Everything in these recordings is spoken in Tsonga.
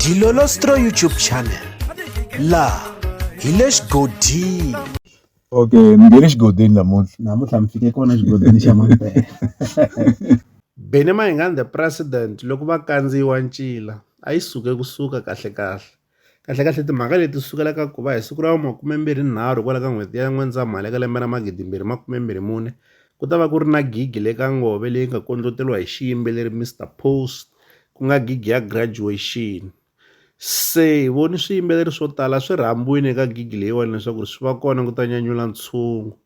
Dilolostro YouTube channel la hi le xigodini okay mi nge le xigodini namuntlha namuntlha mi fike kona xigodini xa mampela Benny Mayengani the president loko va kandziyiwa ncila a yi suke kusuka kahle kahle kahlekahle timhaka leti sukela ka ku va hi siku ra makumembirhinharhu kwala ka n'hweti ya n'wendzamhala eka lembe ra magidimbirhi makumembirhi mune ku ta va ku ri na gigi le ka ngove leyi nga kondloteriwa hi xiyimbeleri mr pose ku nga gigi ya graduation se hi voni swiyimbeleri swo tala swi rhambiwile eka gigi leyiwani leswaku ri swi va kona ku ta nyanyula ntshungu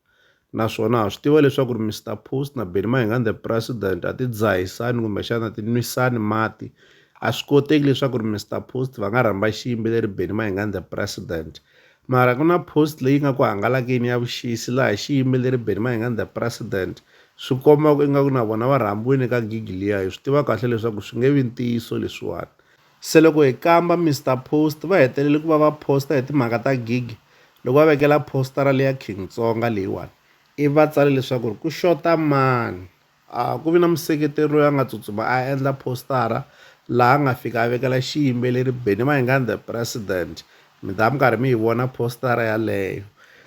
Naswona ha swi tiva leswaku ri Mister Post na Benny Mayengani the President a ti dzahisani kumbexana a ti nwisani mati. A swi koteki leswaku ri Mister Post va nga rhamba xiyimbeleri Benny Mayengani the President. Mara ku na post leyi nga ku hangalakeni ya vuxisi laha xiyimbeleri Benny Mayengani the President swi komba ku ingaku na vona va rhambiwini eka gig liya. Hi swi tiva kahle leswaku swi nge vi ntiyiso leswiwani. Se loko hi kamba Mister Post va hetelele ku va va posta hi timhaka ta gig loko va vekela postara leya King Tsonga leyiwani ivi va tsale leswaku ku xota mani. A ku vi na museketeri loyi a nga tsutsuma a endla postara laha a nga fika a vekela xiyimbeleri Benny Mayengani The President. Mi ta va mi karhi mi yi vona postara yaleyo.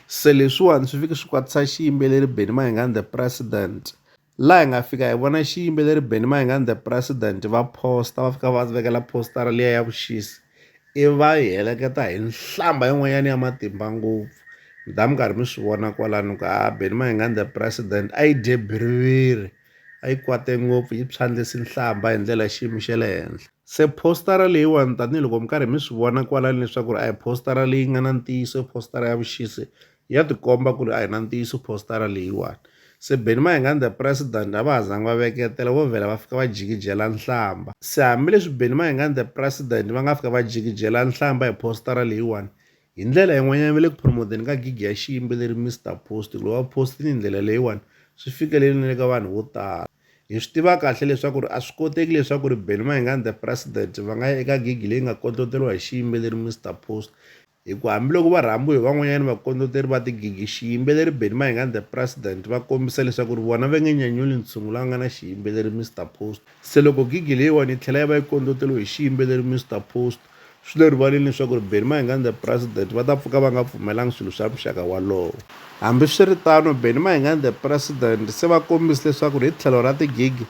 Se leswiwani swi fike swi kwatisa xiyimbeleri Benny Mayengani The President. laha hi nga fika hi vona xiyimbeleri Benny Mayengani the president va posta va fika va vekela postara liya ya vuxisi i va yi heleketa hi nhlamba yin'wanyana ya matimba ngopfu mi ta mi karhi mi swi vona kwalano ku a Benny Mayengani the president a yi dye biriviri a yi kwate ngopfu yi phyandlisi nhlamba hi ndlela xiyimo xa le henhla se postara leyiwani tanihiloko mi karhi mi swi vona kwalani leswaku ri a hi postara leyi nga na ntiyiso i postara ya vuxisi Ya tikomba ku ri a hi na ntiyiso phositara leyiwani. Se Benny Mahingande President a va ha zangi va veketela, vo vhela va fika va jikijela nhlamba. Se hambi leswi Benny Mahingande President va nga fika va jikijela nhlamba hi phositara leyiwani, hi ndlela yin'wanyana va le ku promote-eni ka gig ya xiyimbeleri Mister Post hikuva va post-ini hi ndlela leyiwani swi fikelele na le ka vanhu vo tala. Hi swi tiva kahle leswaku ri a swi koteki leswaku ri Benny Mahingande President va nga ya eka gig leyi nga kondloteriwa hi xiyimbeleri Mister Post, Hi ku hambiloko va rhambiwe hi van'wanyana vakondloteri va tigigi, xiyimbeleri Benny Mayenge and the President va kombisa leswaku ri vona va nge nyanyuli ntshungu la nga na xiyimbeleri Mister Post. Se loko gigi leyiwani yi tlhela yi va yi kondloteriwe hi xiyimbeleri Mister Post, swi le rivaleni leswaku ri Benny Mayenge and the President va ta pfuka va nga pfumelanga swilo swa muxaka walowo. Hambi swi ri tano, Benny Mayenge and the President se va kombise leswaku ri hi tlhelo ra tigigi,